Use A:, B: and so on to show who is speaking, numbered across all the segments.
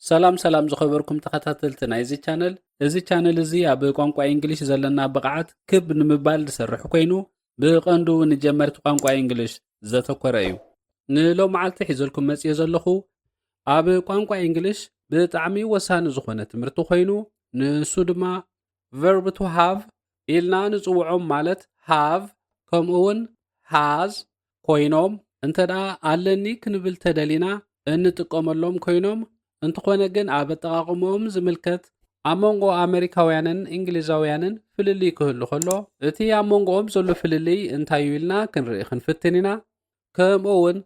A: ሰላም ሰላም ዝኸበርኩም ተኸታተልቲ ናይዚ ቻነል እዚ ቻነል እዚ ኣብ ቋንቋ እንግሊሽ ዘለና ብቕዓት ክብ ንምባል ዝሰርሕ ኮይኑ ብቐንዱ ንጀመርቲ ቋንቋ እንግሊሽ ዘተኮረ እዩ ንሎም መዓልቲ ሒዘልኩም መፅዮ ዘለኹ ኣብ ቋንቋ እንግሊሽ ብጣዕሚ ወሳኒ ዝኾነ ትምህርቲ ኮይኑ ንሱ ድማ ቨርብ ቱ ሃቭ ኢልና ንጽውዖም ማለት ሃቭ ከምኡውን ሃዝ ኮይኖም እንተ ደኣ ኣለኒ ክንብል ተደሊና እንጥቀመሎም ኮይኖም እንተኾነ ግን ኣብ ኣጠቓቕምኦም ዝምልከት ኣብ መንጎ ኣመሪካውያንን እንግሊዛውያንን ፍልልይ ክህሉ ከሎ እቲ ኣብ መንጎኦም ዘሎ ፍልልይ እንታይ እዩ ኢልና ክንርኢ ክንፍትን ኢና ከምኡ እውን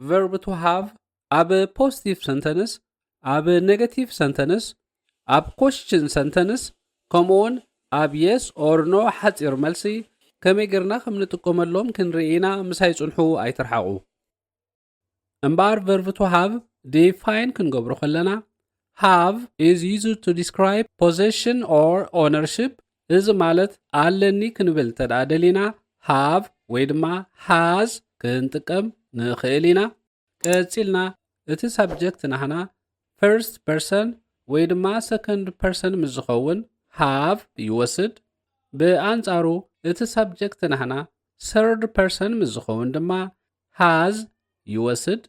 A: ቨርብ ቱ ሃቭ ኣብ ፖስቲቭ ሰንተንስ፣ ኣብ ኔጋቲቭ ሰንተንስ፣ ኣብ ኮሽችን ሰንተንስ ከምኡ ውን ኣብ የስ ኦር ኖ ሓጺር መልሲ ከመይ ጌርና ከም ንጥቀመሎም ክንርኢ ኢና ምሳይ ጽንሑ ኣይትርሓቑ እምበኣር ቨርቭ ቱ ሃቭ ዲፋይን ክንገብሮ ከለና ሃቭ ኢዝ ዩዝ ቱ ዲስክራይብ ፖዘሽን ኦር ኦነርሽፕ እዚ ማለት ኣለኒ ክንብል እንተደኣ ደሊና ሃቭ ወይ ድማ ሃዝ ክንጥቀም ንኽእል ኢና ቀጺልና እቲ ሳብጀክት ናህና ፍርስት ፐርሰን ወይ ድማ ሰከንድ ፐርሰን ምስ ዝኸውን ሃቭ ይወስድ፣ ብኣንጻሩ እቲ ሳብጀክት ናህና ሰርድ ፐርሰን ምስ ዝኸውን ድማ ሃዝ ይወስድ።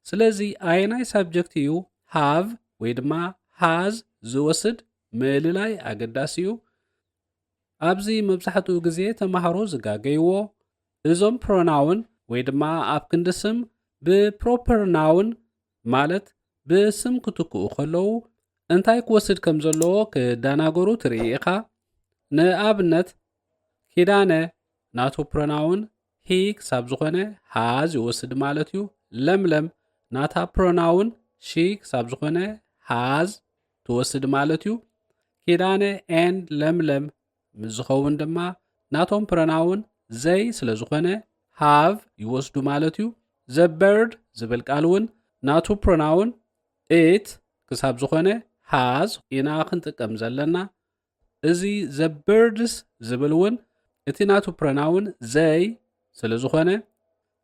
A: ስለዚ ኣየናይ ሳብጀክት እዩ ሃቭ ወይ ድማ ሃዝ ዝወስድ ምእልላይ ኣገዳሲ እዩ። ኣብዚ መብዛሕትኡ ግዜ ተማሃሮ ዝጋገይዎ እዞም ፕሮናውን ወይ ድማ ኣብ ክንዲ ስም ብፕሮፐር ናውን ማለት ብስም ክትክኡ ከለዉ እንታይ ክወስድ ከም ዘለዎ ክደናገሩ ትርኢ ኢኻ። ንኣብነት ኪዳነ ናቱ ፕሮናውን ሂ ክሳብ ዝኾነ ሃዝ ይወስድ ማለት እዩ። ለምለም ናታ ፕሮናውን ሺ ክሳብ ዝኾነ ሃዝ ትወስድ ማለት እዩ። ኪዳነ ኤን ለምለም ምስ ዝኸውን ድማ ናቶም ፕሮናውን ዘይ ስለ ዝኾነ ሃቭ ይወስዱ ማለት እዩ። ዘበርድ ዝብል ቃል እውን ናቱ ፕሮናውን ኢት ክሳብ ዝኾነ ሃዝ ኢና ክንጥቀም ዘለና። እዚ ዘ በርድስ ዝብል እውን እቲ ናቱ ፕረናውን ዘይ ስለ ዝኾነ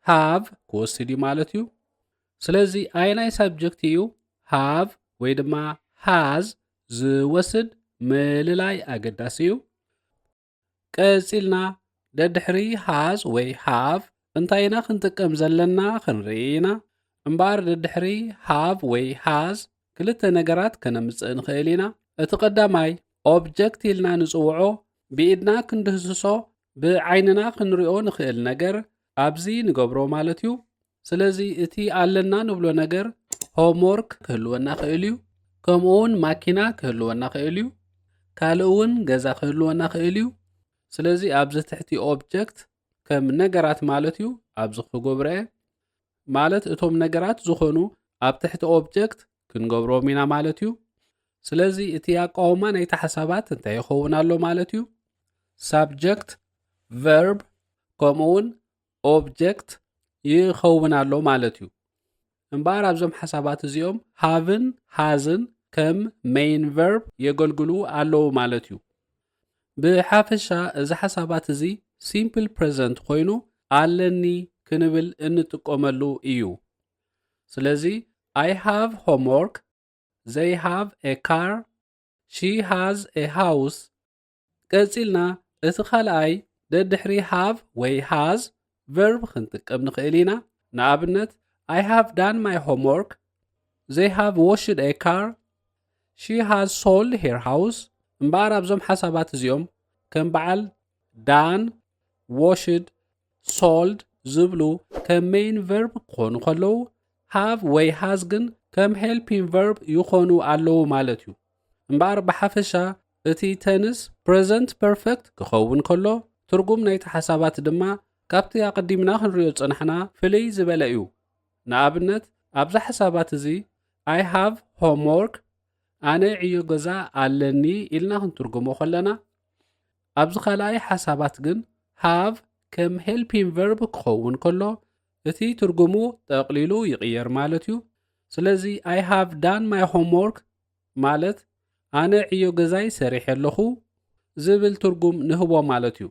A: ሃቭ ክወስድ እዩ ማለት እዩ። ስለዚ ኣየናይ ሳብጀክት እዩ ሃቭ ወይ ድማ ሃዝ ዝወስድ ምልላይ ኣገዳሲ እዩ። ቀጺልና ደድሕሪ ሃዝ ወይ ሃቭ እንታይ ኢና ክንጥቀም ዘለና ክንርኢ ኢና። እምበኣር ደድሕሪ ሃቭ ወይ ሃዝ ክልተ ነገራት ከነምጽእ ንኽእል ኢና። እቲ ቀዳማይ ኦብጀክት ኢልና ንጽውዖ ብኢድና ክንድህስሶ ብዓይንና ክንሪኦ ንኽእል ነገር ኣብዚ ንገብሮ ማለት እዩ። ስለዚ እቲ ኣለና ንብሎ ነገር ሆምወርክ ክህልወና ክእል እዩ ከምኡ እውን ማኪና ክህልወና ክእል እዩ ካልእ እውን ገዛ ክህልወና ክእል እዩ ስለዚ ኣብዚ ትሕቲ ኦብጀክት ከም ነገራት ማለት እዩ ኣብዚ ክጎብረየ ማለት እቶም ነገራት ዝኾኑ ኣብ ትሕቲ ኦብጀክት ክንገብሮም ኢና ማለት እዩ ስለዚ እቲ ኣቃውማ ናይቲ ሓሳባት እንታይ ይኸውን ኣሎ ማለት እዩ ሳብጀክት ቨርብ ከምኡውን ኦብጀክት ይኸውን ኣሎ ማለት እዩ እምበኣር ኣብዞም ሓሳባት እዚኦም ሃቭን ሃዝን ከም ሜይን ቨርብ የገልግሉ ኣለዉ ማለት እዩ። ብሓፈሻ እዚ ሓሳባት እዚ ሲምፕል ፕረዘንት ኮይኑ ኣለኒ ክንብል እንጥቀመሉ እዩ። ስለዚ I have homework፣ they have a car፣ she has a house፣ ቀጺልና እቲ ካልኣይ ደድሕሪ ሃቭ ወይ ሃዝ ቨርብ ክንጥቀም ንኽእል ኢና። ንኣብነት I have done my homework they have washed a car she has sold her house እምበኣር ኣብዞም ሓሳባት እዚኦም ከም በዓል ዳን ዎሽድ ሶልድ ዝብሉ ከም ሜይን ቨርብ ክኾኑ ከለዉ ሃቭ ወይ ሃዝ ግን ከም ሄልፒን ቨርብ ይኾኑ ኣለዉ ማለት እዩ እምበኣር ብሓፈሻ እቲ ተንስ ፕረዘንት ፐርፈክት ክኸውን ከሎ፣ ትርጉም ናይቲ ሓሳባት ድማ ካብቲ ኣቐዲምና ክንሪኦ ዝጸናሕና ፍልይ ዝበለ እዩ። ንኣብነት ኣብዚ ሓሳባት እዚ I have homework፣ ኣነ ዕዮ ገዛ ኣለኒ፣ ኢልና ክንትርጉሞ ከለና፣ ኣብዚ ካልኣይ ሓሳባት ግን have ከም ሄልፒን ቨርብ ክኸውን ከሎ፣ እቲ ትርጉሙ ጠቕሊሉ ይቕየር ማለት እዩ። ስለዚ I have done my homework፣ ማለት ኣነ ዕዮ ገዛይ ሰሪሐ ኣለኹ ዝብል ትርጉም ንህቦ ማለት እዩ።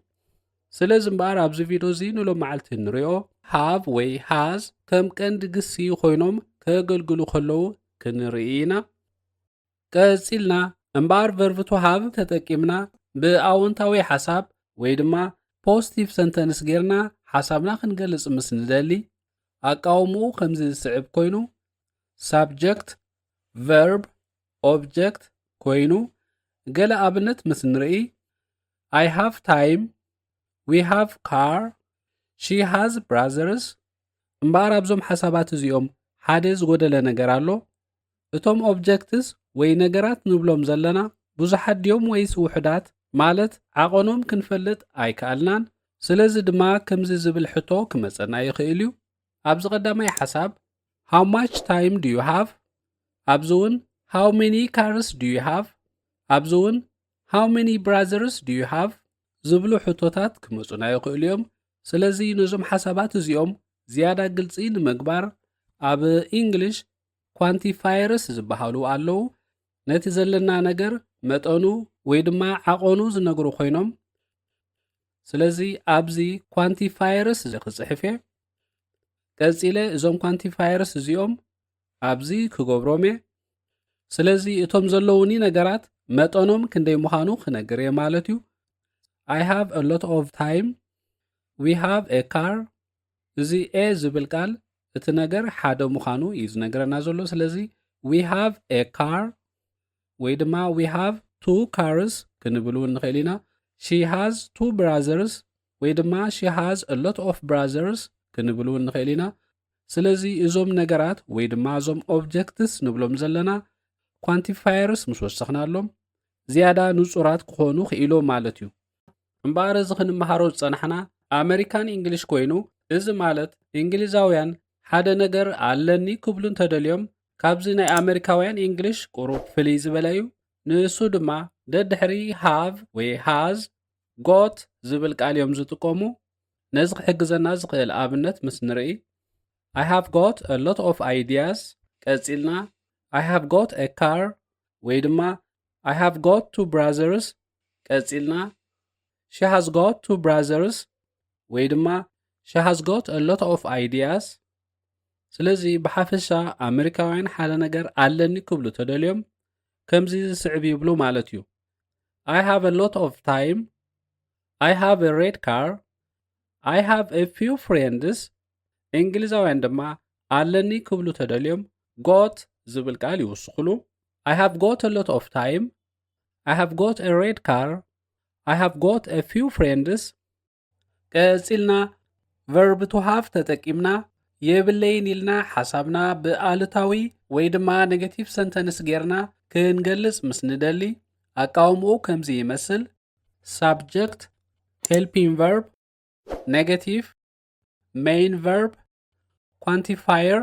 A: ስለዚ እምበኣር ኣብዚ ቪድዮ እዚ ንሎመዓልቲ ንሪኦ ሃቭ ወይ ሃዝ ከም ቀንዲ ግሲ ኮይኖም ከገልግሉ ከለዉ ክንርኢ ኢና። ቀጺልና እምበኣር ቨርቭ ቱ ሃቭ ተጠቂምና ብኣወንታዊ ሓሳብ ወይ ድማ ፖስቲቭ ሰንተንስ ጌርና ሓሳብና ክንገልጽ ምስ ንደሊ ኣቃውምኡ ከምዚ ዝስዕብ ኮይኑ ሳብጀክት ቨርብ ኦብጀክት ኮይኑ ገለ ኣብነት ምስ ንርኢ ኣይ ሃቭ ታይም ዊ ሃቭ ካር ሺ ሃዝ ብራዘርስ እምበኣር ኣብዞም ሓሳባት እዚኦም ሓደ ዝጎደለ ነገር ኣሎ እቶም ኦብጀክትስ ወይ ነገራት ንብሎም ዘለና ብዙሓት ድዮም ወይስ ውሑዳት ማለት ዓቐኖም ክንፈልጥ ኣይከኣልናን ስለዚ ድማ ከምዚ ዝብል ሕቶ ክመፀና ይኽእል እዩ ኣብዚ ቀዳማይ ሓሳብ ሃው ማች ታይም ዱ ዩ ሃቭ ኣብዚ እውን ሃው መኒ ካርስ ዱ ዩ ሃቭ ኣብዚ እውን ሃው መኒ ብራዘርስ ዱ ዩ ሃቭ ዝብሉ ሕቶታት ክመፁና ይኽእሉ እዮም ስለዚ ነዞም ሓሳባት እዚኦም ዝያዳ ግልፂ ንምግባር ኣብ ኢንግሊሽ ኳንቲፋየርስ ዝበሃሉ ኣለዉ ነቲ ዘለና ነገር መጠኑ ወይ ድማ ዓቐኑ ዝነግሩ ኮይኖም ስለዚ ኣብዚ ኳንቲፋየርስ እዚ ክፅሕፍ እየ ቀፂለ እዞም ኳንቲፋየርስ እዚኦም ኣብዚ ክገብሮም እየ ስለዚ እቶም ዘለውኒ ነገራት መጠኖም ክንደይ ምዃኑ ክነግር እየ ማለት እዩ ኣይ ሃቭ አ ሎት ኦፍ ታይም ዊ ሃቭ ኤ ካር እዚ ኤ ዝብል ቃል እቲ ነገር ሓደ ምዃኑ እዩ ዝነገረና ዘሎ ስለዚ ዊ ሃቭ ኤ ካር ወይ ድማ ዊ ሃቭ ቱ ካርስ ክንብል እውን ንኽእል ኢና ሺ ሃዝ ቱ ብራዘርስ ወይ ድማ ሺ ሃዝ ሎት ኦፍ ብራዘርስ ክንብል እውን ንኽእል ኢና ስለዚ እዞም ነገራት ወይ ድማ እዞም ኦብጀክትስ ንብሎም ዘለና ኳንቲፋየርስ ምስ ወሰኽናሎም ዝያዳ ንጹራት ክኾኑ ክኢሎ ማለት እዩ እምበኣር እዚ ክንመሃሮ ዝጸናሕና ኣመሪካን እንግሊሽ ኮይኑ እዚ ማለት እንግሊዛውያን ሓደ ነገር ኣለኒ ክብሉ እንተደልዮም ካብዚ ናይ ኣመሪካውያን ኢንግሊሽ ቁሩብ ፍልይ ዝበለ እዩ ንእሱ ድማ ደድሕሪ ሃቭ ወይ ሃዝ ጎት ዝብል ቃል እዮም ዝጥቀሙ ነዚ ክሕግዘና ዝኽእል ኣብነት ምስ ንርኢ ኣይ ሃቭ ጎት አ ሎት ኦፍ ኣይዲያስ ቀጺልና ኣይ ሃቭ ጎት አ ካር ወይ ድማ ኣይ ሃቭ ጎት ቱ ብራዘርስ ቀጺልና ሺ ሃዝ ጎት ቱ ብራዘርስ ወይ ድማ ሺ ሃዝ ጎት አ ሎት ኦፍ ኣይዲያስ ስለዚ ብሓፈሻ ኣመሪካውያን ሓደ ነገር ኣለኒ ክብሉ ተደልዮም ከምዚ ዝስዕብ ይብሉ ማለት እዩ ኣይ ሃቭ አ ሎት ኦፍ ታይም ኣይ ሃቭ አ ሬድ ካር ኣይ ሃቭ አ ፊው ፍሬንድስ እንግሊዛውያን ድማ ኣለኒ ክብሉ ተደልዮም ጎት ዝብል ቃል ይውስኽሉ ኣይ ሃቭ ጎት አ ሎት ኦፍ ታይም ኣይ ሃቭ ጎት አ ሬድ ካር ኣይ ሃቭ ጎት አ ፊው ፍሬንድስ ቀጺልና ቨርብ ቱ ሃቭ ተጠቂምና የብለይን ኢልና ሓሳብና ብኣሉታዊ ወይ ድማ ኔጌቲቭ ሰንተንስ ጌርና ክንገልጽ ምስ ንደሊ ኣቃውምኡ ከምዚ ይመስል ሳብጀክት ሄልፒን ቨርብ ኔጌቲቭ ሜይን ቨርብ ኳንቲፋየር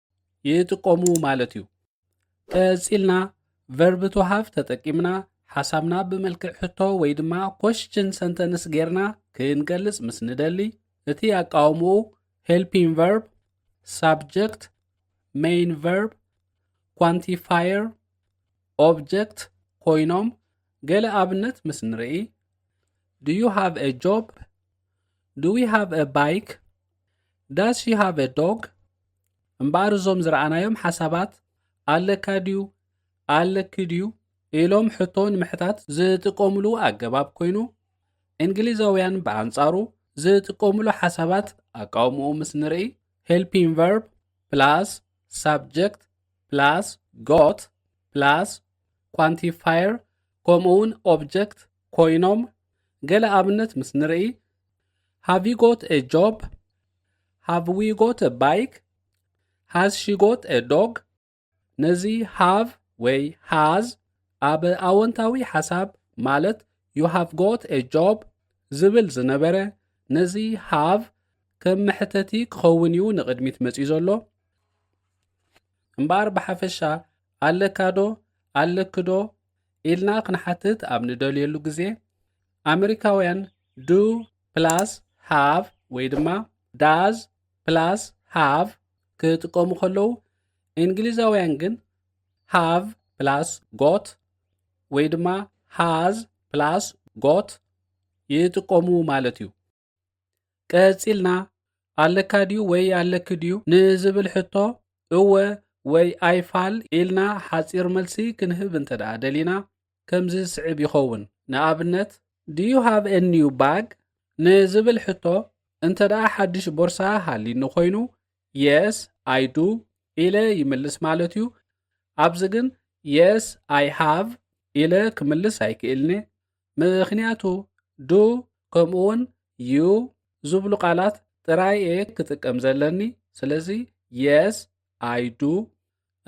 A: ይጥቀሙ ማለት እዩ። ቀጺልና ቨርብ ቱ ሃቭ ተጠቂምና ሓሳብና ብመልክዕ ሕቶ ወይ ድማ ኮስችን ሰንተንስ ጌርና ክንገልጽ ምስ ንደሊ እቲ ኣቃውምኡ ሄልፒን ቨርብ፣ ሳብጀክት፣ ሜይን ቨርብ፣ ኳንቲፋየር፣ ኦብጀክት ኮይኖም ገለ ኣብነት ምስ ንርኢ ዱ ዩ ሃቭ አ ጆብ ዱ ዊ ሃቭ አ ባይክ ዳስ ዩ ሃቭ ዶግ እምበኣር እዞም ዝረኣናዮም ሓሳባት ኣለካ ድዩ ኣለኪ ድዩ ኢሎም ሕቶ ንምሕታት ዝጥቀምሉ ኣገባብ ኮይኑ እንግሊዛውያን ብኣንጻሩ ዝጥቀምሉ ሓሳባት ኣቃውምኡ ምስ ንርኢ ሄልፒን ቨርብ ፕላስ ሳብጀክት ፕላስ ጎት ፕላስ ኳንቲፋየር ከምኡውን ኦብጀክት ኮይኖም ገለ ኣብነት ምስ ንርኢ ሃቭ ዩ ጎት ኤ ጆብ ሃቭ ዊ ጎት ኤ ባይክ ሃዝ ሺ ጎት ኤ ዶግ ነዚ ሃቭ ወይ ሃዝ ኣብ ኣወንታዊ ሓሳብ ማለት ዩ ሃቭ ጎት ኤ ጆብ ዝብል ዝነበረ ነዚ ሃቭ ከም መሕተቲ ክኸውን እዩ ንቕድሚት መፅዩ ዘሎ እምበኣር ብሓፈሻ ኣለካዶ ኣለክዶ ኢልና ክንሓትት ኣብ ንደልየሉ ግዜ ኣመሪካውያን ዱ ፕላስ ሃቭ ወይ ድማ ዳዝ ፕላስ ሃቭ ክጥቀሙ ከለዉ እንግሊዛውያን ግን ሃቭ ፕላስ ጎት ወይ ድማ ሃዝ ፕላስ ጎት ይጥቀሙ ማለት እዩ። ቀጺልና ኣለካ ድዩ ወይ ኣለኪ ድዩ ንዝብል ሕቶ እወ ወይ ኣይፋል ኢልና ሓጺር መልሲ ክንህብ እንተ ደኣ ደሊና ከምዚ ዝስዕብ ይኸውን። ንኣብነት ድዩ ሃብ ኤኒዩ ባግ ንዝብል ሕቶ እንተ ደኣ ሓድሽ ቦርሳ ሃሊኒ ኮይኑ የስ ኣይ ዱ ኢለ ይምልስ ማለት እዩ። ኣብዚ ግን የስ ኣይ ሃቭ ኢለ ክምልስ ኣይክእልን'የ። ምኽንያቱ ዱ ከምኡውን ዩ ዝብሉ ቃላት ጥራይ እየ ክጥቀም ዘለኒ ስለዚ የስ ኣይዱ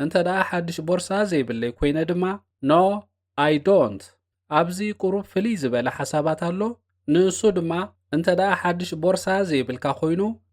A: እንተ ደኣ ሓድሽ ቦርሳ ዘይብለይ ኮይነ ድማ ኖ ኣይ ዶንት ኣብዚ ቁሩብ ፍልይ ዝበለ ሓሳባት ኣሎ ንእሱ ድማ እንተ ደኣ ሓድሽ ቦርሳ ዘይብልካ ኮይኑ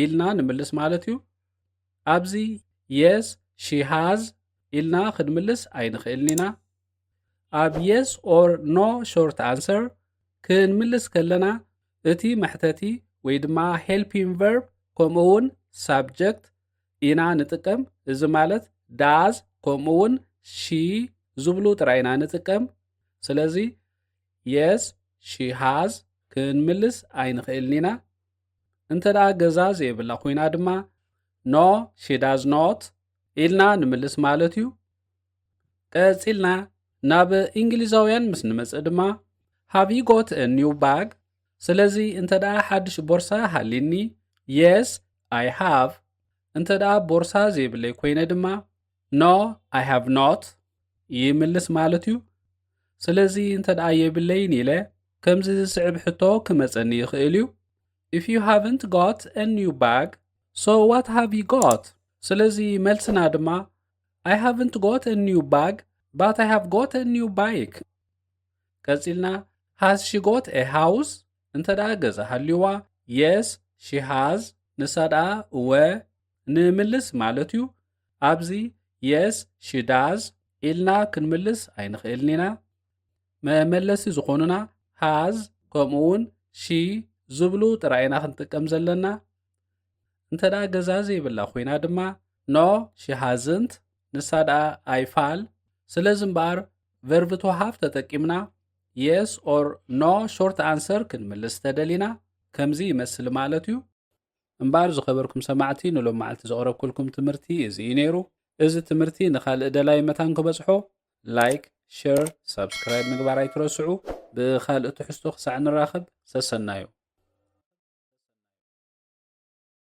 A: ኢልና ንምልስ ማለት እዩ ኣብዚ የስ ሺሃዝ ኢልና ክንምልስ ኣይንኽእልን ኢና ኣብ የስ ኦር ኖ ሾርት ኣንሰር ክንምልስ ከለና እቲ መሕተቲ ወይ ድማ ሄልፒን ቨርብ ከምኡ እውን ሳብጀክት ኢና ንጥቀም እዚ ማለት ዳዝ ከምኡ እውን ሺ ዝብሉ ጥራይ ኢና ንጥቀም ስለዚ የስ ሺ ሃዝ ክንምልስ ኣይንኽእልን ኢና እንተ ደኣ ገዛ ዘየብላ ኮይና ድማ ኖ ሺዳዝ ኖት ኢልና ንምልስ ማለት እዩ ቀጺልና ናብ እንግሊዛውያን ምስ ንመጽእ ድማ ሃቭ ዩ ጎት ኒው ባግ ስለዚ እንተ ደኣ ሓድሽ ቦርሳ ሃሊኒ የስ ኣይ ሃቭ እንተ ደኣ ቦርሳ ዘይብለይ ኮይነ ድማ ኖ ኣይ ሃቭ ኖት ይምልስ ማለት እዩ ስለዚ እንተ ደኣ የብለይን ኢለ ከምዚ ዝስዕብ ሕቶ ክመጸኒ ይኽእል እዩ ኢፍ ዩ ሃቭንት ጎት አ ኒው ባግ ሶ ዋት ሃቭ ዩ ጎት ስለዚ መልስና ድማ ኣይ ሃቭንት ጎት አ ኒው ባግ ባት ኣይ ሃቭ ጎት አ ኒው ባይክ ቀጺልና ሃዝ ሺ ጎት ኤ ሃውስ እንተ ደኣ ገዛ ሃልዩዋ የስ ሺ ሃዝ ንሳ ደኣ እወ ንምልስ ማለት እዩ ኣብዚ የስ ሽዳዝ ኢልና ክንምልስ ኣይንኽእልን ኢና መመለሲ ዝኾኑና ሃዝ ከምኡ እውን ሺ ዝብሉ ጥራይ ኢና ክንጥቀም ዘለና እንተ ደኣ ገዛ ዘይብላ ኮይና ድማ ኖ ሽሃዝንት ንሳ ደኣ ኣይፋል ስለዚ እምበኣር ቨርቭ ተዋሃፍ ተጠቂምና የስ ኦር ኖ ሾርት ኣንሰር ክንምልስ ተደሊና ከምዚ ይመስል ማለት እዩ እምበኣር ዝኸበርኩም ሰማዕቲ ንሎም መዓልቲ ዘቕረብኩልኩም ትምህርቲ እዚ እዩ ነይሩ። እዚ ትምህርቲ ንኻልእ ደላይ መታን ክበጽሖ ላይክ፣ ሸር፣ ሳብስክራይብ ምግባር ኣይትረስዑ። ብኻልእ ትሕዝቶ ክሳዕ ንራኸብ ሰሰናዩ።